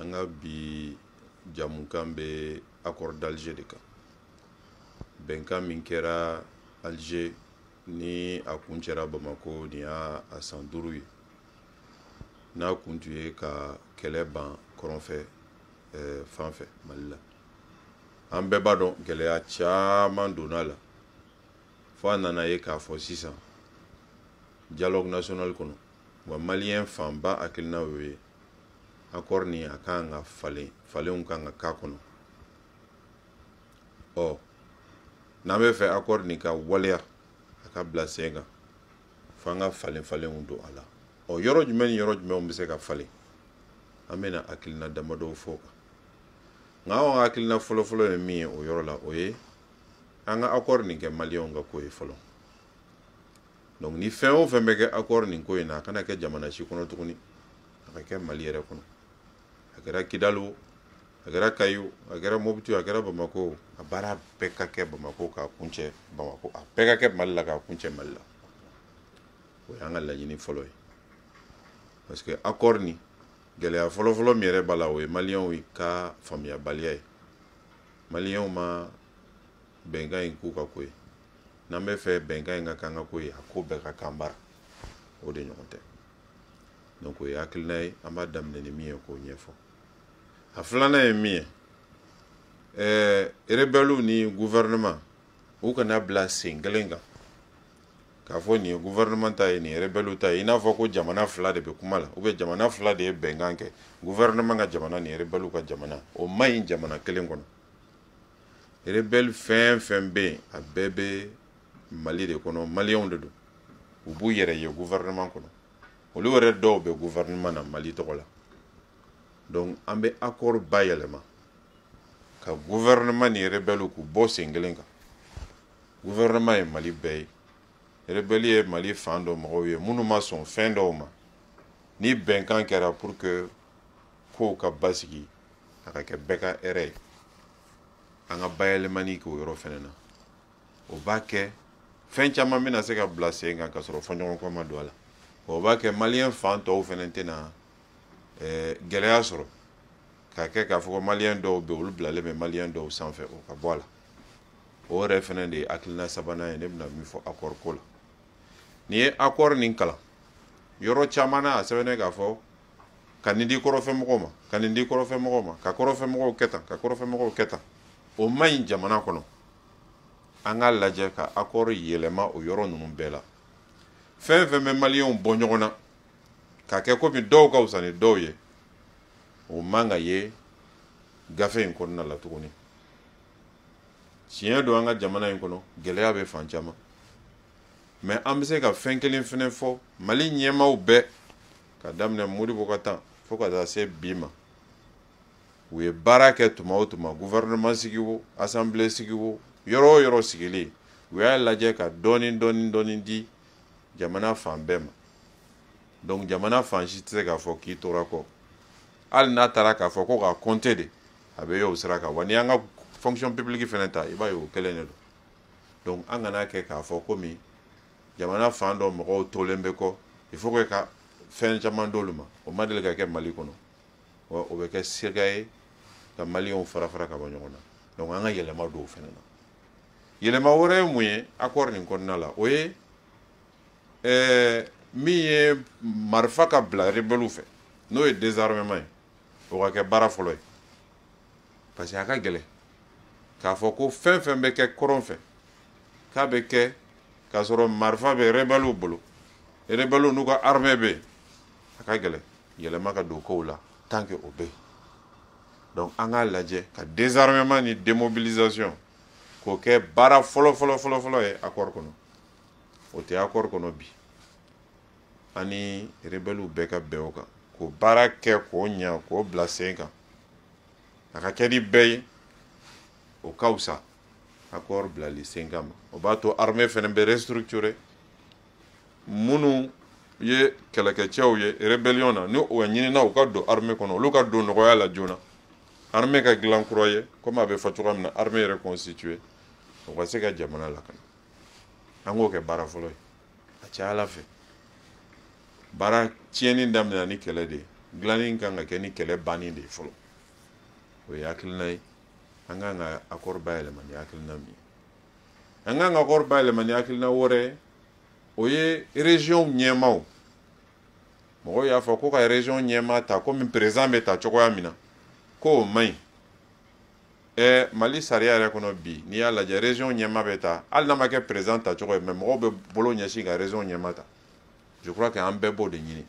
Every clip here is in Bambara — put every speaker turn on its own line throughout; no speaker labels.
an ka bi jamukan bɛ accord d'alger de kan bɛnkan min kɛra alger ni a kuncɛra bamako nin y'a san duuru ye n'a kun tun ye ka kɛlɛ ban kɔrɔnfɛ eh, fan fɛ mali la an bɛɛ b'a dɔn gɛlɛya caman donna a la fo a nana ye k'a fɔ sisan dialogue national kɔnɔ wa maliyɛn fanba hakilina y'o ye akɔri nin a kan ka falen falenw kan ka k'a kɔnɔ ɔ n'an bɛ fɛ akɔri nin ka waleya a ka bila sen kan fo an ka falen falenw don a la ɔ yɔrɔ jumɛn ni yɔrɔ jumɛnw bɛ se ka falen an bɛna hakilina damadɔw fɔ o kan nka anw ka hakilina fɔlɔfɔlɔ ye min ye o yɔrɔ la o ye an ka akɔri nin kɛ maliyɛnw ka ko ye fɔlɔ donc ni fɛn o fɛn bɛ kɛ accord nin ko in na a kana kɛ jamana si kɔnɔ tuguni a ka kɛ mali yɛrɛ kɔnɔ a kɛra kidali o a kɛra kayi o a kɛra mobiti o a kɛra bamako o a baara bɛɛ ka kɛ bamako k'a kuncɛ bamako a bɛɛ ka kɛ mali la k'a kuncɛ mali la o y'an ka laɲini fɔlɔ ye parce que accord nin gɛlɛya fɔlɔfɔlɔ min yɛrɛ b'a la o ye maliyɛnw ka faamuyabaliya ye maliyɛnw ma bɛnkan in k'u ka ko ye n'an bɛ fɛ bɛnkan in ka k'an ka ko ye a ko bɛɛ ka k'an bara o de ɲɔgɔn tɛ donc o ye hakilina ye an b'a daminɛ ni min ye k'o ɲɛfɔ a filanan ye min ye ɛɛ rebɛliw ni gouvernement u kana bila sen kelen kan k'a fɔ nin ye gouvernement ta ye nin ye rebɛliw ta ye i n'a fɔ ko jamana fila de bɛ kuma la ou bien jamana fila de ye bɛnkan kɛ gouvernement ka jamana ni rebɛliw ka jamana o man ɲi jamana kelen kɔnɔ rebelle fɛn fɛn bɛ yen a bɛɛ bɛ mali de kɔnɔ maliyɛnw de don u b'u yɛrɛ ye gouvernement kɔnɔ olu yɛrɛ dɔw bɛ gouvernement na mali tɔgɔ la donc an bɛ accord bayɛlɛma ka gouvernement ni rebelle k'u bɔ sen kelen kan gouvernement ye mali bɛɛ ye rebelle ye mali fan dɔ mɔgɔw ye minnu ma sɔn fɛn dɔw ma ni bɛnkan kɛra pour que kow ka basigi a ka kɛ bɛɛ ka hɛrɛ ye an ka bayɛlɛmani k'o yɔrɔ fɛnɛ na o b'a kɛ fɛn caman bɛna se ka bila sen kan ka sɔrɔ fɔɲɔgɔnkɔ ma don a la o b'a kɛ maliyɛn fan tɔw fɛnɛ tɛna eh, gɛlɛya sɔrɔ ka kɛ k'a fɔ ko maliyɛn dɔw bɛ olu bilalen bɛ maliyɛn dɔw sanfɛ o ka bɔ a la o yɛrɛ fɛnɛ de ye hakilina sabanan ye ne bɛna min fɔ akɔri ko la n'i ye akɔri nin kalan yɔrɔ caman na a sɛbɛnnen k'a fɔ ka nin di kɔrɔnfɛ mɔgɔw ma ka nin di kɔrɔnfɛ mɔgɔw ma ka kɔrɔnfɛ mɔgɔw kɛ tan ka kɔrɔnfɛ mɔgɔw kɛ tan o man ɲi jamana kɔnɔ an k'a lajɛ ka akɔri yɛlɛma o yɔrɔ ninnu bɛɛ la fɛn fɛn bɛ maliyɛnw bɔ ɲɔgɔn na ka kɛ komi dɔw ka fisa ni dɔw ye o man ka ye gafe in kɔnɔna la tuguni tiɲɛ don an ka jamana in kɔnɔ gɛlɛya bɛ fan caman mais an bɛ se ka fɛn kelen fɛnɛ fɔ mali ɲɛmaaw bɛɛ ka daminɛ modibo ka temps fo ka taa se bi ma u ye baara kɛ tuma o tuma gouvernement sigi o assemblée sigi o yɔrɔ o yɔrɔ sigilen u y'a lajɛ ka dɔɔni dɔɔni dɔɔni di jamana fan bɛɛ ma donc jamana fan si tɛ se k'a fɔ k'i tora kɔ hali n'a taara k'a fɔ ko ka compter de a bɛ y'o sira kan wa n'i y'an ka fonction publique fana ta i b'a ye o kelen de don donc an kana kɛ k'a fɔ komi jamana fan dɔ mɔgɔw tolen bɛ kɔ il faut que ka fɛn caman d'olu ma o ma deli ka kɛ mali kɔnɔ wa o bɛ kɛ sira ye ka maliyɛnw fara fara ka bɔ ɲɔgɔn na donc an ka yɛlɛma don o fana na yɛlɛma wɛrɛ ye mun ye accord nin kɔnɔna la o ye ɛɛ min ye marifa ka bila rebɛliw fɛ n'o ye désarmement ye o ka kɛ baara fɔlɔ ye parce que a ka gɛlɛn k'a fɔ ko fɛn fɛn bɛ kɛ kɔrɔn fɛ k'a bɛ kɛ k'a sɔrɔ marifa bɛ rebɛliw bolo rebɛliw n'u ka armée bɛ yen a ka gɛlɛn yɛlɛma ka don kow la tant que o bɛ yen donc an k'a lajɛ ka désarmement ni démobilisation k'o kɛ baara fɔlɔ fɔlɔ fɔlɔ fɔlɔ ye accord kɔnɔ o tɛ accord kɔnɔ bi an ni rebɛliw bɛɛ ka bɛn o kan k'o baara kɛ k'o ɲa k'o bila sen kan a ka kɛ ni bɛɛ ye o ka fisa accord bilali sen kan ma o b'a to armée fana bɛ restructurer minnu ye kɛlɛkɛcɛw ye rébellion na ni o ɲinina u ka don armée kɔnɔ olu ka don nɔgɔya la joona armée ka dilan kura ye komi a bɛ fɔ cogoya min na armée reconstituée o ka se ka jamana lakana an k'o kɛ baara fɔlɔ ye a caya ala fɛ baara tiɲɛni daminɛna ni kɛlɛ de ye dilanni kan ka kɛ ni kɛlɛ banni de ye fɔlɔ o ye hakilina ye an kan ka akɔri bayɛlɛma ni hakilina min ye an kan ka akɔri bayɛlɛma ni hakilina wɛrɛ o ye région ɲɛmaaw mɔgɔw y'a fɔ ko ka région ɲɛmaa ta komi président bɛ ta cogoya min na ko o man ɲi ɛɛ mali sariya yɛrɛ kɔnɔ bi n'i y'a lajɛ région ɲɛmaa bɛ ta hali n'a ma kɛ président ta cogo ye mais mɔgɔw bɛ bolo ɲɛsin ka région ɲɛmaa ta je crois que an bɛɛ b'o de ɲini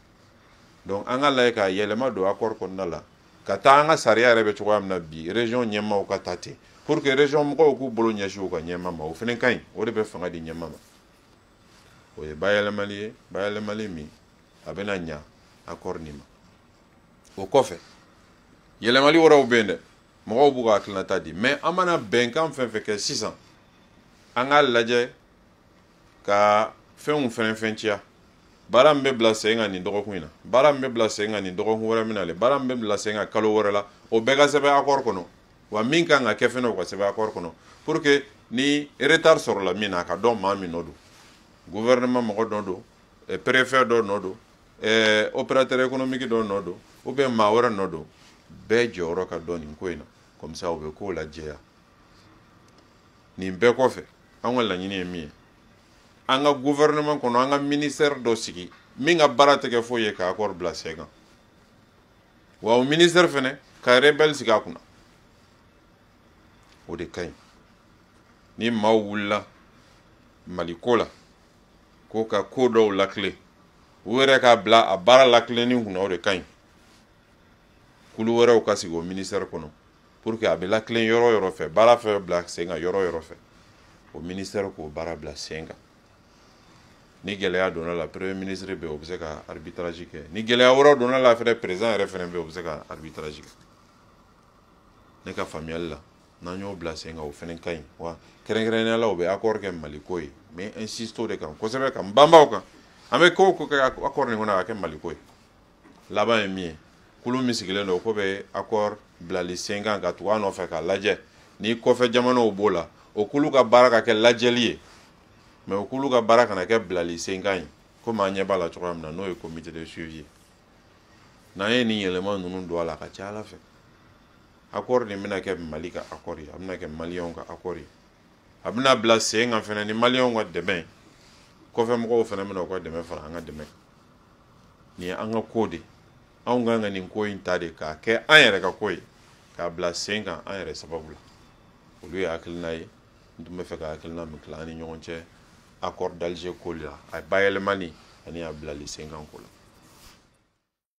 donc an k'a lajɛ ka yɛlɛma don accord kɔnɔna la ka taa an ka sariya yɛrɛ bɛ cogoya min na bi région ɲɛmaaw ka ta ten pour que région mɔgɔw k'u bolo ɲɛsin u ka ɲɛmaa ma o fana ka ɲi o de bɛ fanga di ɲɛmaa ma o ye bayɛlɛmali ye bayɛlɛmali min a bɛna ɲa accord nin ma o kɔfɛ yɛlɛmali wɛrɛw bɛ yen dɛ mɔgɔw b'u ka hakilinata di mais an mana bɛnkan fɛn fɛn kɛ sisan an k'a lajɛ ka fɛnw faranfasiya baara min bɛ bila sen kan nin dɔgɔkun in na baara min bɛ bila sen kan nin dɔgɔkun wɛrɛ min nalen baara min bɛ bila sen kan kalo wɛrɛ la o bɛɛ ka sɛbɛn accord kɔnɔ wa min kan ka kɛ fɛnɛ o ka sɛbɛn accord kɔnɔ pour que ni retard sɔrɔla min na a ka dɔn maa min nɔ don gouvernement mɔgɔ nɔ don eh, préfet dɔ nɔ don eh, opérateur économique dɔ nɔ don ou bien maa wɛrɛ nɔ don bɛɛ jɔyɔrɔ ka dɔn nin ko in na comme ça o bɛ kow lajɛya nin bɛɛ kɔfɛ an ka laɲini ye min ye an ka gouvernement kɔnɔ an ka ministère dɔ sigi min ka baara tɛ kɛ foyi ye ka accord bila sen kan wa o ministère fɛnɛ ka rebelle sigi a kunna o de ka ɲi ni maaw wulila mali ko la ko ka ko dɔw lakilen u yɛrɛ ka bila a baara lakilenni kunna o de ka ɲi kulu wɛrɛw ka sigi o ministère kɔnɔ pour que a bɛ latilen yɔrɔ yɔrɔ fɛ baara fɛn bila sen kan yɔrɔ yɔrɔ fɛ o ministère k'o baara bila sen kan ni gɛlɛya donna la premier ministre bɛ o bɛ se ka arbitrage kɛ ni gɛlɛya wɛrɛ donna la fɛnɛ président yɛrɛ fɛnɛ bɛ o bɛ se ka arbitrage kɛ ne ka faamuyali la n'an y'o bila sen kan o fɛnɛ ka ɲi wa kɛrɛnkɛrɛnnenya la o bɛ accord kɛ mali ko ye n bɛ insister o de kan kosɛbɛ ka n banban o kan an bɛ ko o ko kɛ accord nin kɔnɔ a ka kɛ mali ko ye laban ye min ye kulu min sigilen don k'o bɛ accord bilali sen kan ka tugu a nɔfɛ k'a lajɛ ni kɔfɛ jamanaw b'o la o kulu ka baara ka kɛ lajɛli ye mais o kulu ka baara kana kɛ bilali sen kan ye komi an ɲɛ b'a la cogoya min na n'o ye comité de suivi ye n'an ye nin yɛlɛma ninnu don a la a ka ca a la fɛ accord nin bɛna kɛ mali ka accord ye a bɛna kɛ maliyɛnw ka accord ye a bɛna bila sen kan fɛnɛ ni maliyɛnw ka dɛmɛ kɔfɛ mɔgɔw fɛnɛ bɛna u ka dɛmɛ fara an ka dɛmɛ kan nin ye an ka ko de anw kan ka nin ko in ta de k'a kɛ an yɛrɛ ka ko ye k'a bila sen kan an yɛrɛ sababu la olu ye hakilina ye n tun b'a fɛ ka hakilina min tila an ni ɲɔgɔn cɛ accord d'Alger ko la a bayɛlɛmani ani a bilali sen kan ko la